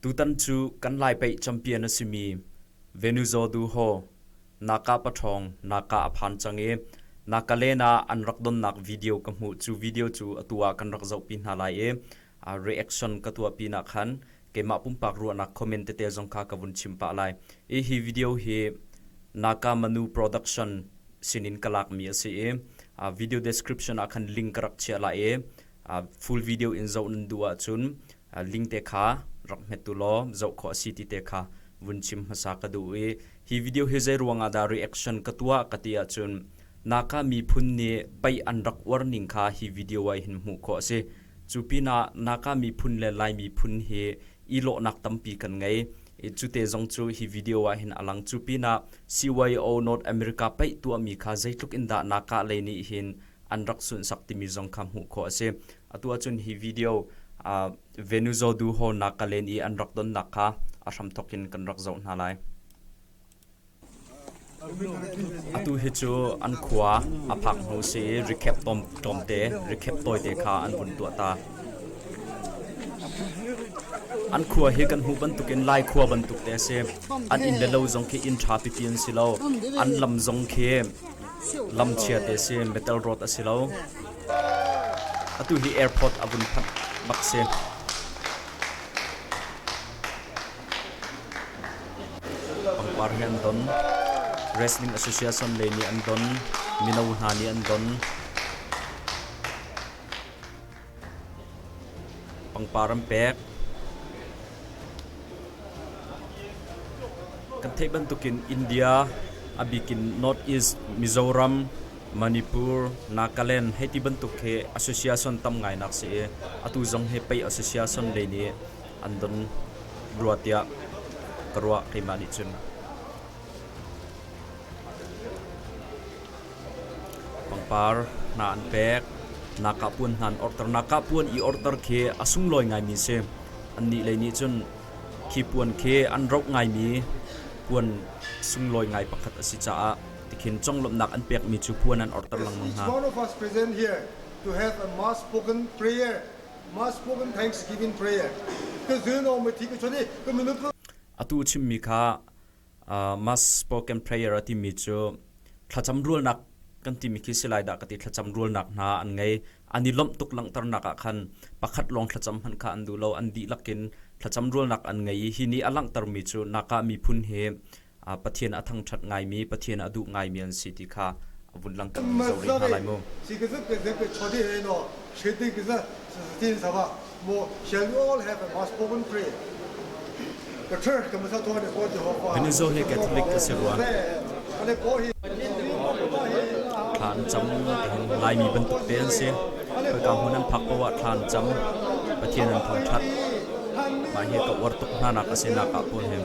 Tutan cu kan lai pei champion a simi Venuzo Du Ho na ka paṭhawng na ka a phan cang i na ka len ah an rak donnak video ka hmuh cu video cu atu ah kan rak zohpi hna lai i a reaction ka tuah pinah khan keimah pumpak ruahnak comment tete zong kha ka vun chim pah lai i hi video hi Naka Manu Production sinin ka lakmi a si i a video description ah khan link ka rak chiah lai i full video in zoh nan duh ahcun link te kha rak hmettu law zoh khawh a si ti te kha vun chim hmasa ka duh i hi video hi zei ruangah dah reaction ka tuah ka ti ahcun naka miphun nih pei an rak uar ning kha hi video ai hin hmuh khawh a si cu pinah naka miphun le lai miphun hi i lawhnak tampi kan ngei cute zong cu hi video ah hin alang cu pinah CYO North America pei tuahmi kha zeitluk in dah naka lei nih hin an rak sunsak timi zong kha hmuh khawh a si. Atu ahcun hi video Venuzo Du Ho Nakaleen i an rak donnak kha a hramthawk in kan rak zoh hna lai. Atu hi cu an khua a phak hnu si i rikhep tlawmte, rikhep tawite kha an vun tuah ta. An khua hi kan hmuh bantukin lai khua bantuk te a si. An inn le lo zong khi inn ṭha pipi an si lo. An lam zong khi Lam chiate si, metal road a si lo. Atu hi airport a vun phanh bak si. Pangpar hi an don. Wrestling Association le nih an don. Mino hna nih an don. Pangpar an pek. Kan theih bantukin India, a bikin North East, Mizoram, Manipur, Nagaland hei ti bantuk khi association tam ngainak si i atu zong hi pei association lei nih an don rua tiah ka ruah keimah nih cun. Pangpar hna an pek. Nakapuan hna an orhter. Nakapuan i orhter khi a sunglawi ngaimi si. Annih lei nih cun khi puan khi an roh ngaimi puan sunglawi ngai pakhat a si caah tikhin conglawmhnak an pekmi cu puan an orhter lengmang hna. One of us present here to have a mass-spoken prayer, mass-spoken thanksgiving prayer. Ka zun awm mi thi ka chon i ka minute. Atu chimmi kha mass spoken prayer a timi cu thlacam rualnak kan timi khi si lai dah ka ti thlacam rualnak hna an ngei an i lomh tuk langhternak ah khan pakhat lawng thlacam hmanh kha an duh lo an dihlak in thlacam rualnak an ngei i hi nih a langhtermi cu naka miphun hi pathian a thangṭhat ngaimi pathian a duh ngaimi an si ti kha vun lang kan zo rih hna lai mu Venezuela hi Catholic ka si rua thlan cam laimi bantuk te an si khawika hmun an phak poah thlan cam pathian an thawng that mah hi ka uar tuk hna nak a si nak ah pun hem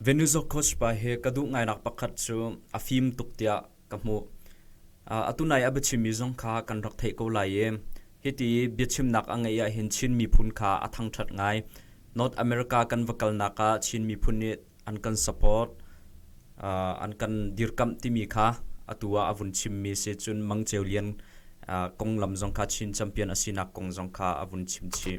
Venuzo coach pa hi ka duh ngainak pakhat cu a fim tuk tiah ka hmuh. Uh, atu nai a biachimmi zong kha kan rak theih ko lai i hiti biachimnak a ngeih ahhin Chin miphun kha a thangṭhat ngai. North America kan va kalnak ah Chin miphun nih an kan support, uh, an kan dirkamh timi kha atu ah a vun chimmi si cun Mang Ceu Lian uh, konglam zong kha Chin champion a sinak kong zong kha a vun chim chih.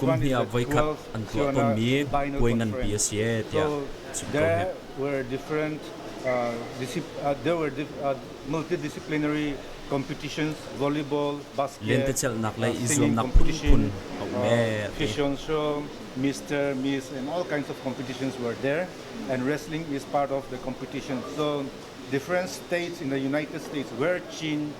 Kumhnih ah voikhat an tuah tawnmi puai nganpi a si e tiah chim ko hih. Lentecelhnak lei i zuamnak phunphun a um e a ti. Mr. Miss and all kinds of competitions were there and wrestling is part of the competition. So different states in the United States were Chin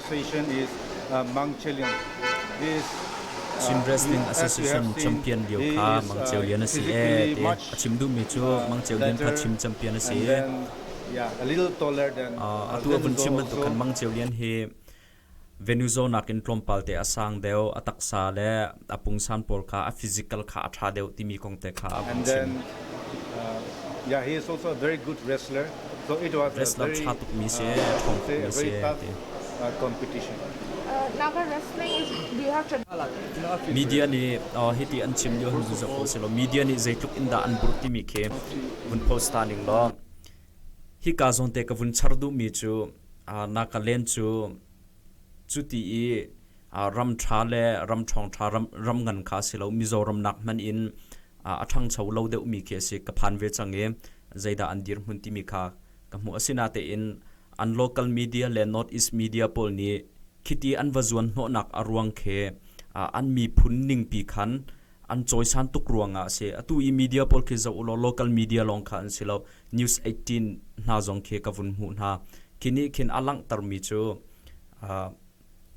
station is uh, Mang Chelin. This Chin Wrestling Association champion lio kha Mang Ceu Lian a si e te a chim duhmi cu Mang Ceu Lian kha chim champion a si a tu a vun chim bantuk khan Mang Ceu Lian hi venue zonak in tlawmpal te a sang deuh a taksa le a pungsan pawl kha a physical kha a ṭha deuh timi kong te kha a vung chim. Uh, yeah, he is also a very good wrestler. So it was wrestler ṭha tukmi si, ṭhawng tukmi si, ti. Uh, competition. Uh, Naga wrestling is do you have tradition? Media nih uh, hiti an chim dio hun zu ko silo media nih zeitluk in dah an bur timi khi vun post ta ning lo hi ka zon te ka vun char du mi chu uh, na ka len chu cuti i ram ṭha le ram ṭhawngṭha ram ngan kha a si lo Mizoram nak hmanh in a ṭhangcho lo deuhmi khi a si ka phan ve cang i zeidah an dirhmun timi kha ka hmuh asinatein an local media le north east media pawl nih khiti an va zuan hnawhnak a ruang khi an miphun ningpi khan an cawisan tuk ruangah a si atu i media pawl khi zoh law local media lawng kha an si lo news 18 hna zong khi ka vun hmuh hna khi nih khin a langhtermi cu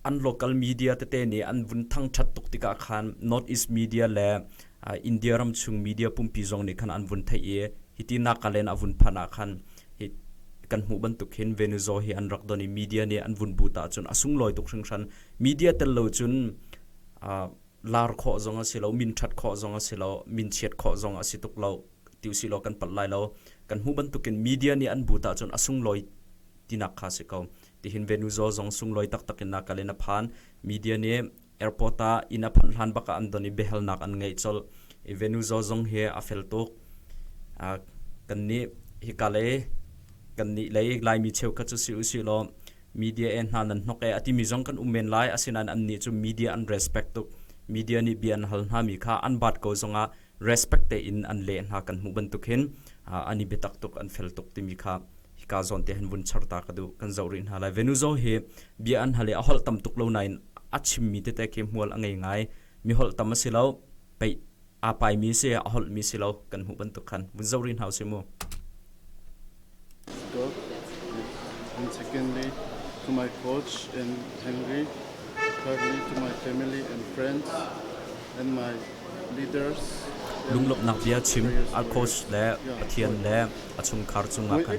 an local media tete nih an vun thangthat tuk tikah khan north east media le india ram chung media pumpi zong nih khan an vun theih i hiti nakalen a vun phanh ah khan hi kan hmuh bantuk hin venezuela hi an rak don i media nih an vun but ah cun a sunglawi tuk hringhran media tel lo cun lar khawh zong a si lo min that khawh zong a si lo min chiat khawh zong a si tuk lo ti si lo kan palh lai lo kan hmu bantukin media nih an but ah cun a sunglawi tinak kha si ko Tihin Venuzawl zong sunglawi taktak in a kal in a phan. Media nih airport ah inn a phanh hlan bak ah an don i biahalnak an ngeih colh i Venuzawl zong hi a fel tuk. Uh, kan nih hi ka lei kan nih lei Laimi cheukhat cu si u si law media e hna nan hnok e a timi zong kan um men lai asinain an nih cu media an respect tuk media nih bia an hal hna mi kha an baat ko zong ah respect tein an leh hna kan hmuh bantuk hin an i biatak tuk an fel tuk timi kha hika zawn te han vun char ta ka duh kan zoh rih hna lai venuzo hi bia an hale a holh tam tuk lo nain a chimmi tete ke hmual a ngei ngai mi holh tam a si lo pei aa pai mi si a holh mi si lo kan hmuh bantuk khan vun zoh rih hna u si mu An second lead to my coach and Henry. Thirdly to my family and friends and my leaders. Lunglawmhnak bia chim a coach le Pathian le a chungkhar cungah khan.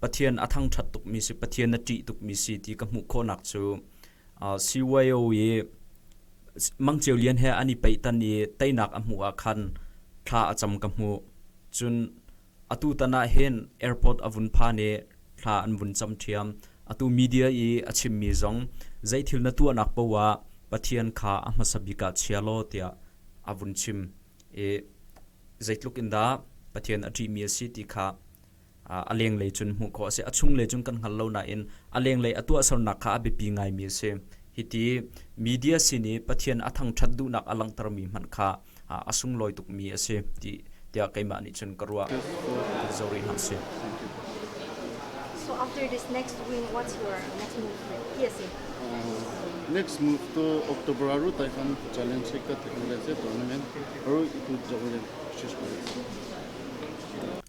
Pathian a thangṭhat tukmi si, Pathian a ṭih tukmi si ti ka hmuh khawhnak cu Siweo i Mangceu Lian he an i peitan i teinak a hmuh ah khan thla a cam ka hmuh. Cun atu tan ah hin airport a vun phan i thla an vun cam ṭhiam. Atu media i a chimmi zong zei thil na tuahnak poah Pathian kha a hmasa bik ah chia law tiah a vun chim i zeitluk in dah Pathian a ṭihmi a si ti kha a lenglei cun hmuh khawh a si. A chunglei cun kan hngal lo nain a lenglei a tuahsernak kha a biapi ngaimi a si. Hiti media sin i Pathian a thangṭhat duhnak a langhtermi hmanh kha a sunglawi tukmi a si tiah keimah nih cun ka ruah. Ka zoh rih hna sih. So after this next win, what's your next move ti a si? Next move tu October a ru tai khan challenge se ka thek le se tournament ru itu zoh le shish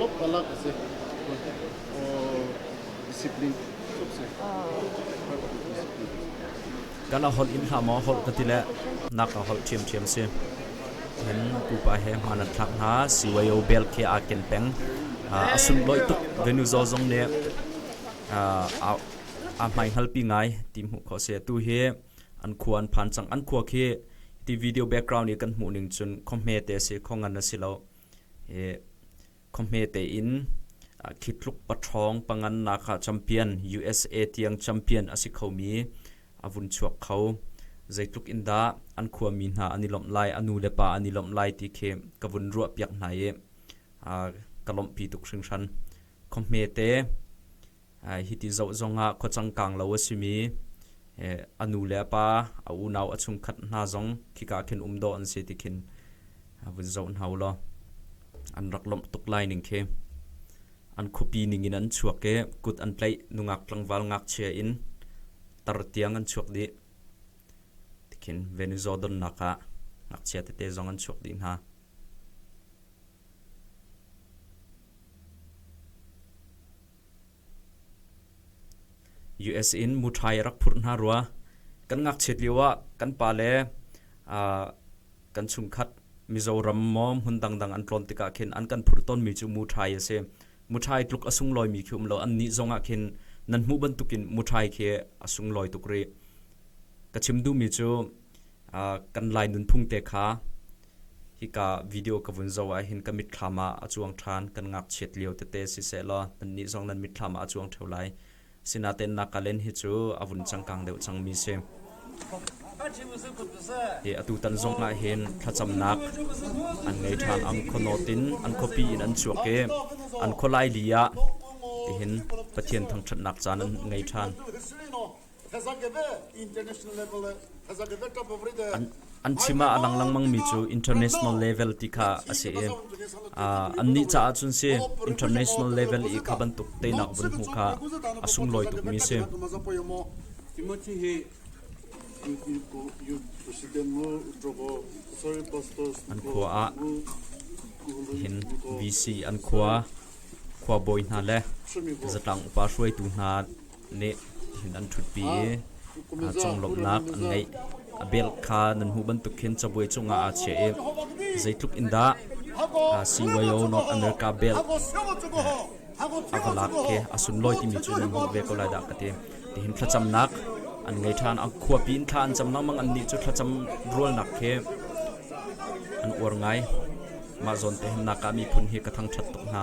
Lop alak ase. Discipline. Kan a holh in hlam a holh ka ti le nak a holh thiam thiam si. In pupa he hma nan thlak hna CYO bel ke a ken peng. A sun loi tuk venu zo zong ne a mai ngal pi ngai ti mu kho se tu hi an khua an phan cang an khua khi ti video background i kan hmuh ning cun khomhme te si kho ngan asi lo i khomhme te in khitluk patrong pangan naka champion USA tiang champion asi khomi avun chuak kho zeitluk in dah an khua mi hna an i lomh lai anu le pa an i lomh lai ti khi ka vun ruah piak hna i ka lomh pi tuk hringhran khomhme te Hiti zoh zongah khuacangkang lo a simi a nu le a pa, a unau, a chungkhat hna zong khika khin um dawh an si ti khin vun zoh hna u law an rak lawmh tuk lai ning khi. An khuapi ning in an chuak i kut an tlaih nungak tlangval ngakchia in tar tiang an chuak dih. Ti khin Venezuela donnak ah ngakchia tete zong an chuak dih hna. US in muṭhai a rak phurh hna rua. Kan ngakchiat lioah kan pale, kan chungkhat Mizoram maw hmun dangdang an tlawn tikah khin an kan phurh tawnmi cu muṭhai a si. Muṭhai tluk a sunglawimi khi um law annih zongah khin nan hmuh bantukin muṭhai khi a sunglawi tuk rih. Ka chim duhmi cu kan lai nunphung te kha hika video ka vun zo ah hin ka mitthlam ah a cuang ṭhan kan ngakchiat lio tete si seh law nannih zong nan mitthlam ah a cuang ṭheo lai sinaten nakalen hi cu a vun changkang deuh cang mi si hi atu tan zong ah hin thlacamnak an ngei ṭhan ang khonawt in an khuapi in an chuak i an khualai li ah tihin pathian thangṭhatnak caan an ngei ṭhan An chim ah a lang lengmangmi cu international level ti kha a si i annih caah cun si international level i kha bantuk teinak vun hmu kha a sunglawi tukmi si. An khua ah hin VC an khua khua bawi hna le zatlang upa hruaitu hna leh hin an ṭhutpi i conglawmhnak an ngeih. A bel kha nan hmuh bantuk khin cabuai cungah aa chiah i zeitluk in dah CYO nok America bel a va lak khi a sunlawi timi cu nan hmuh ve ko lai dah ka ti tihin thlacamnak an ngei ṭhan a khuapi in thla an cam lengmang an nih cu thlacam rualnak khi an uar ngai mah zawn te hin naka miphun hi ka thang ṭhat tuk hna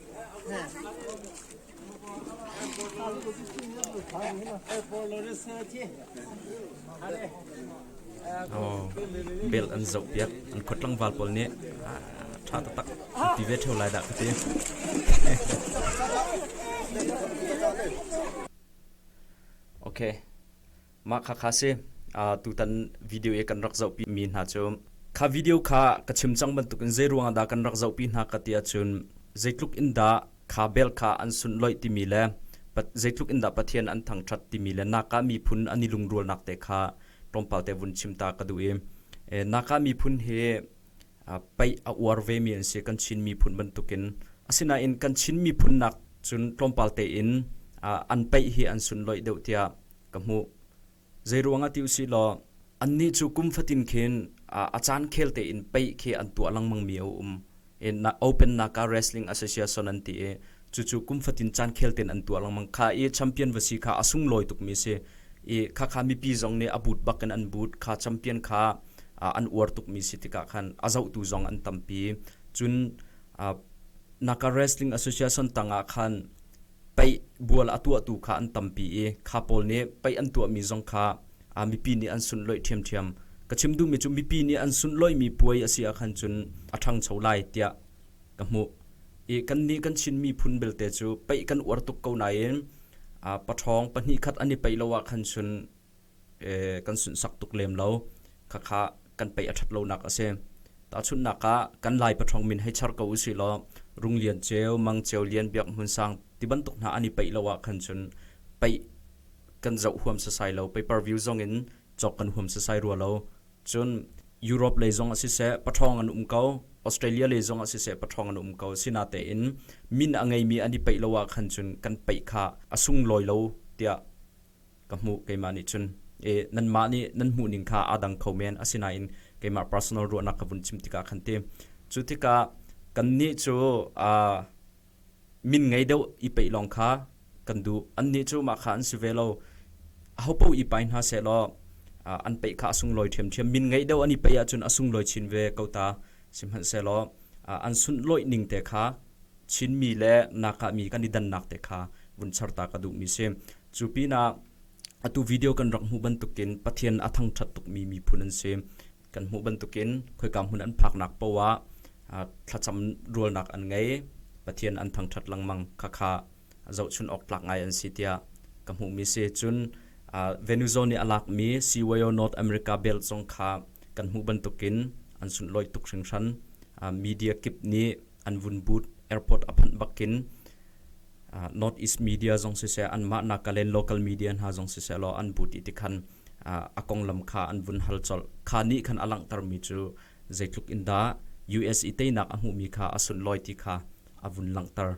bel an zoh piak an khuat tlangval pawl nih tha tatak ti ve theo lai da ka ti okay Mah kha kha si. Uh, tutan video e kan rak zohpi mi hna cu kha video kha ka chim cang bantukin zei ruang dah kan rak zohpi hna ka tia cun zeitluk in dah kha bel kha an sun loih timi le zeitluk in dah pathian an thangthat timi le naka miphun an i lungrualnak te kha tlawmpal te vun chim ta ka duh i e, naka miphun hi paih a uar vemi an si kan Chin miphun bantukin. Asinain kan Chin miphun nak cun tlawmpal tein an paih hi an sun loih deuh tiah ka hmuh. Zeiruangah ti usih law annih cu kum fatin khin a caan khel tein paih khi an tuah lengmangmi a um. Open Naka Wrestling Association an ti i cucu kum fatin caan khel ten an tuar lengmang kha i champion va si kha a sunglawi tukmi si i khakha mipi zong nih a but bak in an but kha champion kha an uar tukmi si tikah khan a zohtu zong an tampi cun naka wrestling association tangah khan pei bual a tuahtu kha an tampi i kha pawl nih pei an tuahmi zong kha mipi nih an sunloi ṭhiamṭhiam ka chim duhmi cu mipi nih an sunloi mi puai a si ah khan cun a ṭhangcho lai tiah ka hmuh i kannih kan Chin miphun belte cu peih kan uar tuk ko nain paṭhawng pahnih khat an i peih lo ahkhan cun kan sunsak tuk lem lo khakha kan peih a ṭhat lonak a si. Tahchunhnak ah kan Lai paṭhawng min hei char ko u sih law Rung Lian Ceu, Mang Ceu Lian, Biak Hmun Sang ti bantuk hna an i peih lo ahkhan cun peih kan zoh huam sasai lo, pay per view zong in cawk kan huam sasai rua lo. Cun Europe lei zong ah siseh paṭhawng an um ko, Australia lei zong ah siseh paṭhawng an um ko. Asinatein min a ngeimi an i peih lo ahkhan cun kan peih kha a sunglawi lo tiah ka hmuh keimah nih cun. E, nanmah nih nan hmuhning kha aa dang kho men. Asinain keimah personal ruahnak ka vun chim tikah khan ti. Cu tikah kannih cu aa min ngei deuh i peih lawng kha kan duh annih cu mah kha an si ve lo ahopo i pai hna seh law an peih kha a sunglawi ṭhiamṭhiam min ngei deuh an i peih ahcun a sunglawi chin ve ko ta sihmanhsehlaw an sunhlawih ning te kha chinmi le nakahmi kan i dannak te kha vun char ta ka duhmi si cu pinah atu video kan rak hmuh bantukin pathian a thangṭhat tukmi miphun an si kan hmuh bantukin khoika hmun an phaknak paoh ah thlacam rualnak an ngei, Pathian an thangṭhat lengmang khakha zohchunh awk tlak ngai an si tiah ka hmuhmi si. Cun Venuzo nih a lakmi CYO North America Belt zong kha kan hmuh bantukin an sunhlawih tuk hringhran. Media kip nih an vun but airport a phanh bakin north east media zong siseh anmah nak kalen local media hna zong siseh law an but i tikhan a konglam kha an vun hal chol kha ni khan a langter mi cu zeitluk in dah US i teinak a hmuhmi kha a sunloi ti kha a vun langter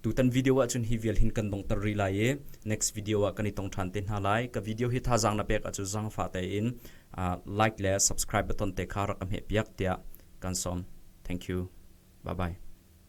Tutan video ahcun hi vial hin kan dongter rih lai i next video ah kan i tong ṭhan te hna lai. Ka video hi thazaang na pek ahcun zangfa tein like le subscribe button te kha rak ka hmehpiak tiah kan sawm. Thank you. Bye bye.